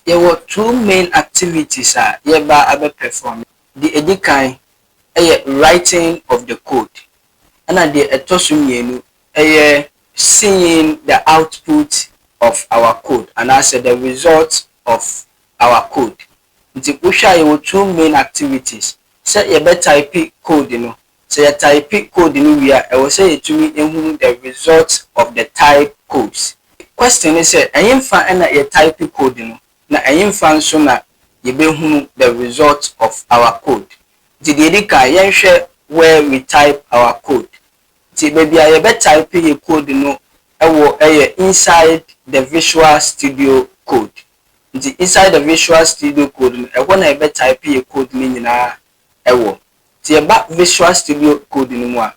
Yɛwɔ two main activities a yɛreba abɛ perform. Deɛ ɛdi kan yɛ writing of the code ɛna deɛ ɛtɔ so mmienu yɛ seeing the output of our code anaa sɛ the result of our code. Nti wohwɛ a yɛwɔ two main activities, sɛ yɛbɛ type code no Sɛ yɛ taipe code no wie a, ɛwɔ sɛ yɛtumi hunu the results of the type codes. Question ne sɛ, ɛhefa na yɛ taipe code no na ɛhefa nso na yɛbɛhunu the results of our code? Nti deɛ ɛdi kan, yɛnhwɛ where we type our code. Nti baabi a yɛbɛ taipe yɛ code no wɔ yɛ inside the visual studio code. Nti inside the visual studio code no, ɛhɔ na yɛbɛ taipe yɛ code no nyinaa wɔ. Sɛ yɛba Visual Studio Code no mu a,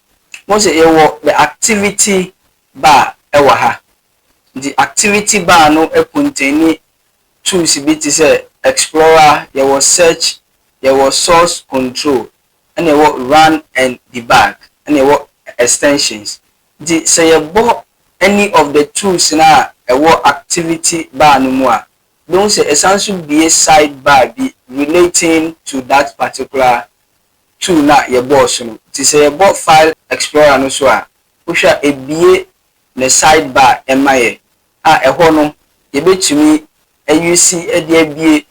wohu sɛ yɛwɔ the Activity bar wɔ ha. Nti Activity bar no kontɛni tools bi te sɛ Explorer, yɛwɔ Search, yɛwɔ Source Control, ɛnna yɛwɔ Run and Debug, ɛnna yɛwɔ Extensions. Nti sɛ yɛbɔ any of the tools no a ɛwɔ Activity bar no mu a, Mehu sɛ ɛsan nso bue side bar bi relating to that particular tool no a yɛbɔɔ so no. Nti sɛ yɛbɔ File Explorer no so a, wohwɛ a ɛbue ne side bar ma yɛ, a ɛhɔ no yɛbɛtumi ayusi de abue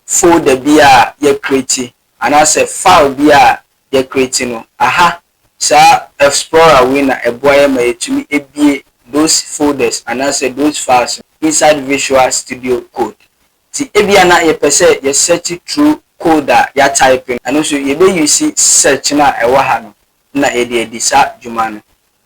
folder biara a yɛakreti anaasɛ file biara a yɛakreti no. Aha Saa Fsplorer wei na ɛboa yɛn ma yɛtumi bue those folders anaasɛ those files no inside Visual Studio Code. Nti ebia na yɛpɛ sɛ yɛ search through code a yɛatype no, ɛno nso yɛbɛ use search no a ɛwɔ ha no na yɛde adi saa dwuma no.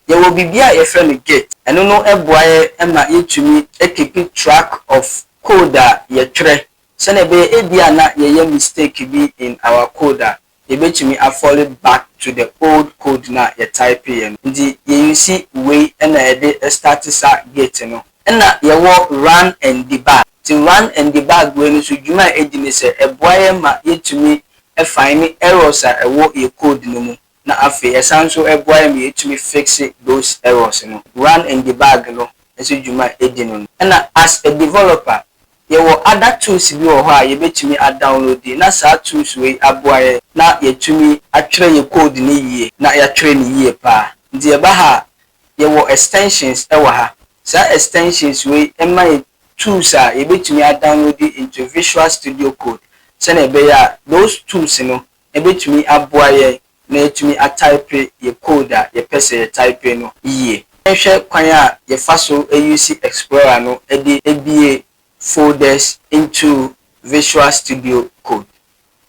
Yɛwɔ biribi a yɛfrɛ no Git. Ɛno no boa yɛn ma yɛtumi keep track of code a yɛtwerɛ sɛdeɛ ɛbɛyɛ ebia na yɛyɛ mistake bi in our code a, yɛbɛtumi afɔle back to the old code no a yɛ typeeɛ no. Nti yɛ use wei na yɛde starte saa gate no. Ɛna yɛwɔ run and debug. Nti run and debug wei no nso dwuma a ɛdi ne sɛ ɛboa yɛn ma yɛtumi fine errors a ɛwɔ yɛ code no mu na afei ɛsan nso ɛboa yɛn ma yɛtumi fixe those errors no. Run and debug no nso dwuma a ɛdi no no. Ɛna as a developer Yɛwɔ ada tools bi wɔ hɔ a yɛbɛtumi a downloadi na saa tools wei aboa yɛn na yɛatumi atwerɛ yɛn code no yie na yɛatwerɛ no yie paa. Nti yɛba ha a, yɛwɔ extensions wɔ ha. Saa extensions wei ma yɛn tools a yɛbɛtumi a downloadi into Visual Studio Code sɛdeɛ ɛbɛyɛ a those tools no Ebetumi aboa yɛn na yɛatumi ataepe yɛn code a yɛpɛ sɛ yɛtaepe no yiye. Yɛnhwɛ kwan a yɛfa so yuusi Explorer no de bue folders into Visual Studio Code.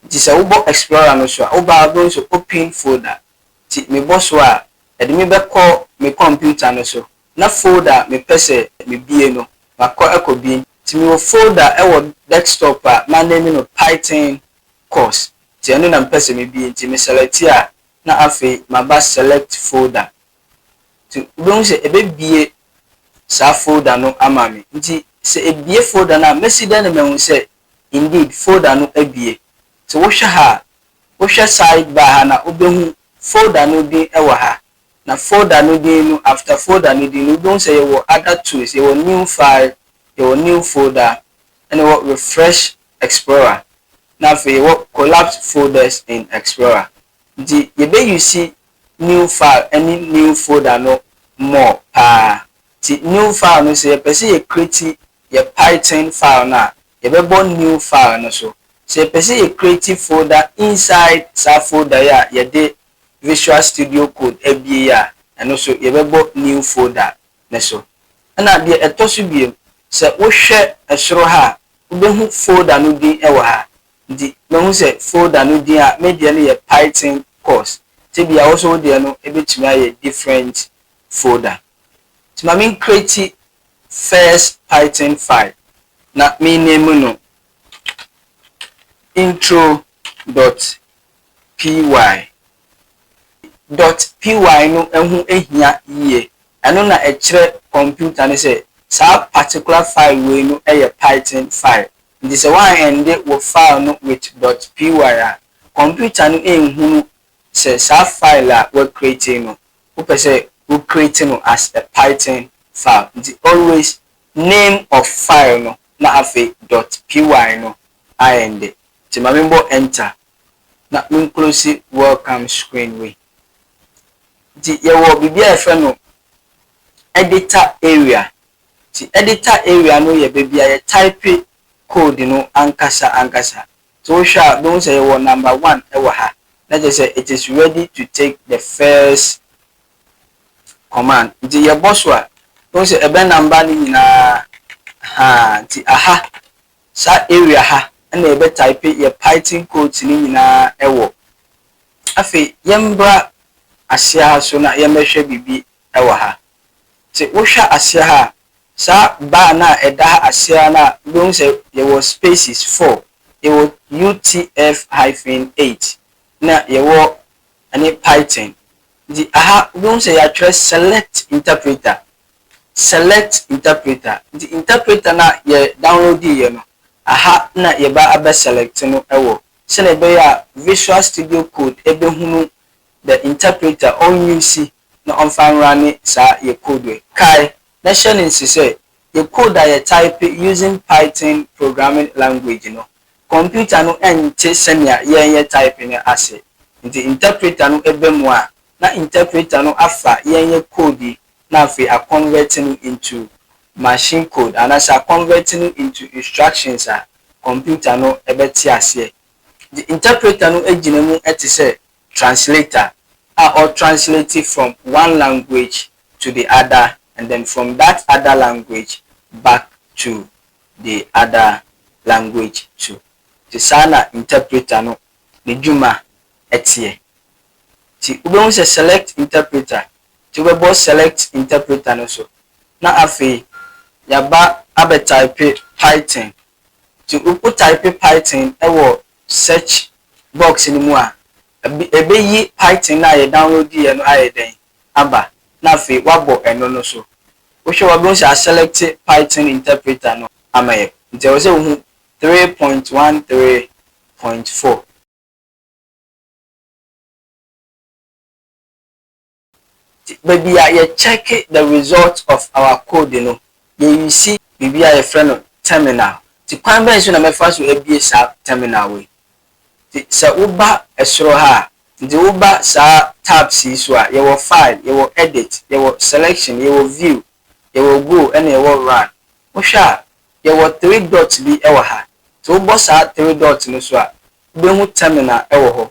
Nti sɛ wobɔ Explorer no so a, woba a wobɛhu sɛ Open Folder. Nti mebɔ so a, ɛde me bɛkɔ me kɔmputa no so, na folder a mepɛ sɛ mibue no, makɔ akɔ bue. Nti mewɔ folder wɔ desktop a maname no Python course nti ɛno na mepɛ sɛ mebie nti me select a na afei maba select folder nti wobɛhu sɛ ɛbɛbie saa folder no ama me nti sɛ ɛbie folder no a mɛsi dɛn na mahu sɛ indeed folder no abie nti wohwɛ ha a wohwɛ side bar ha no a wobɛhu folder no din wɔ ha a. Na folder no din no, after folder no din no, wobɛhu sɛ yɛwɔ other tools, yɛwɔ new file, yɛwɔ new folder, ɛna yɛwɔ refresh explorer, na afei yɛwɔ collapsed folders in explorer. Nti yɛbɛ use new file ɛne new folder no more paa. Nti new file no, sɛ yɛpɛ sɛ yɛ create yɛ Python file no a, yɛbɛbɔ new file no so. Sɛ yɛpɛ sɛ yɛ create folder inside saa folder yi a yɛde Visual Studio Code abue yi a, ɛno nso yɛbɛbɔ New Folder no so. Ɛnna deɛ ɛtɔ so bio, sɛ wohwɛ soro ha a, wobɛhu folder no din wɔ ha. Nti mahu sɛ folder no din a, me deɛ no yɛ Python course, nti ebia wo nso wo deɛ no bɛtumi ayɛ different folder. Nti ma mencreate first Python file, na mename no intro dot py. Dot py no ho hia yie. Ɛno na ɛkyerɛ kɔmputa no sɛ saa particular file wei no yɛ Python file. Nti sɛ woanhɛnde wo file no with dot py a, kɔmputa no nhunu sɛ saa file a woacreate no, wopɛ sɛ wo create no as a Python file. Nti always name of file no na afei dot py no ahɛnde. Nti ma menbɔ enter na me nklose welcome screen wei. Nti yɛwɔ biribi a yɛfrɛ no editor area. Nti editor area no yɛ baabi a yɛ type code no ankasa ankasa. Nti wohwɛ a wobɛhu sɛ yɛwɔ number one ɛwɔ ha. Na kyerɛ sɛ it is ready to take the first command. Nti yɛbɔ so a, wobɛhu sɛ ɛbɛ number no nyinaa, ahaa, nti aha Saa area ha na yɛbɛ type yɛ python codes no nyinaa wɔ. Afei yɛmbra aseɛ ha so na yɛmbɛhwɛ biribi wɔ ha. Se wohwɛ aseɛ ha a, saa bar no a ɛda ha aseɛ ha no a wobɛhu sɛ yɛwɔ spaces four, yɛwɔ UTF hyphen eight na yɛwɔ ɛne python. Nti aha wobɛhu sɛ yɛatwerɛ select interpreter select interpreter nti interpreter no a yɛ download yɛ no aha na yɛba abɛ select no wɔ sɛnea ɛbɛyɛ a visual studio code ɛbɛhunu the interpreter ɔn use na ɔmfa nrane saa yɛ code yi kae na hyɛ no nse sɛ yɛ code a yɛ type using python programming language no computer no nte sɛnea yɛn yɛ type no ase nti interpreter no ɛba mu a na interpreter no afa yɛn yɛ code yi na afei a convert no into machine code anaasɛ a convert no into instructions a computer no bɛte aseɛ. The interpreter no gyina mu te sɛ translator a ɔ translate from one language to the other and then from that other language back to the other language too. Nti saa na interpreter no ne dwuma teɛ. Nti wobɛhu sɛ select interpreter nti wobɛbɔ Select Interpreter no so na afei yɛaba abɛtaipe Python. Nti wotaipe Python wɔ search box no mu a, ɛbɛyi Python no a yɛdownloadiiɛ no ayɛ dɛn? aba na afei woabɔ ɛno no so. Wohwɛ a wobɛhu sɛ aselɛkte Python interpreter no ama yɛ. Nti ɛwɔ sɛ wohu three point one three point four. Nti baabi a yɛ check the result of our code no yɛ use biribi a yɛfrɛ no terminal. Nti kwan bɛn so na mɛfa so abue saa terminal wei. Nti sɛ wo ba soro ha a, nti wo ba saa tabs yi so a, yɛwɔ file, yɛwɔ edit, yɛwɔ selection, yɛwɔ view, yɛwɔ go ɛna yɛwɔ run. Wo hwɛ a, yɛwɔ three dot bi wɔ ha. Nti wo bɔ saa three dot no so a, wo bɛhu terminal wɔ hɔ.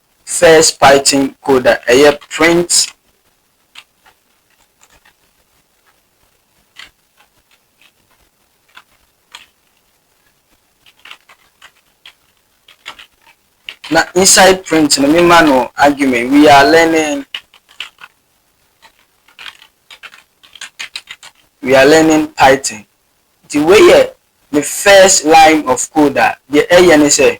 First Python code a ɛyɛ print na inside print no mema no argument we are learning we are learning Python nti wei yɛ the first line of code a deɛ ɛyɛ ne sɛ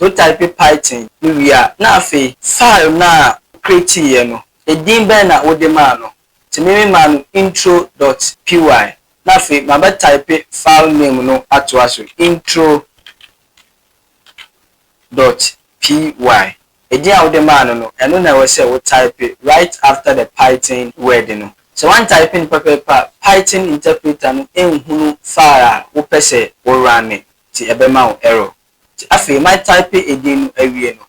Wotaepe Python no wie a, na afei. File no a wokreatiiɛ no, edin bɛn na wode maa no? Nti me memaa no intro dot py na afei mabɛtaepe file name no atoa so, intro dot py. Edin a wode maa no no, ɛno na ɛwɔ sɛ wotaepe right after the Python word no. Sɛ woantaepe no pɛpɛɛpɛ a, Python interpreter no nhunu file a wopɛ sɛ wo runne, nti ɛbɛma wo error. Nti afei ma type edin no awie no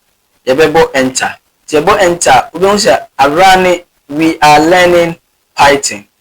yɛbɛbɔ enter. Nti yɛbɔ enter a wobɛhu sɛ awera ne We are learning Python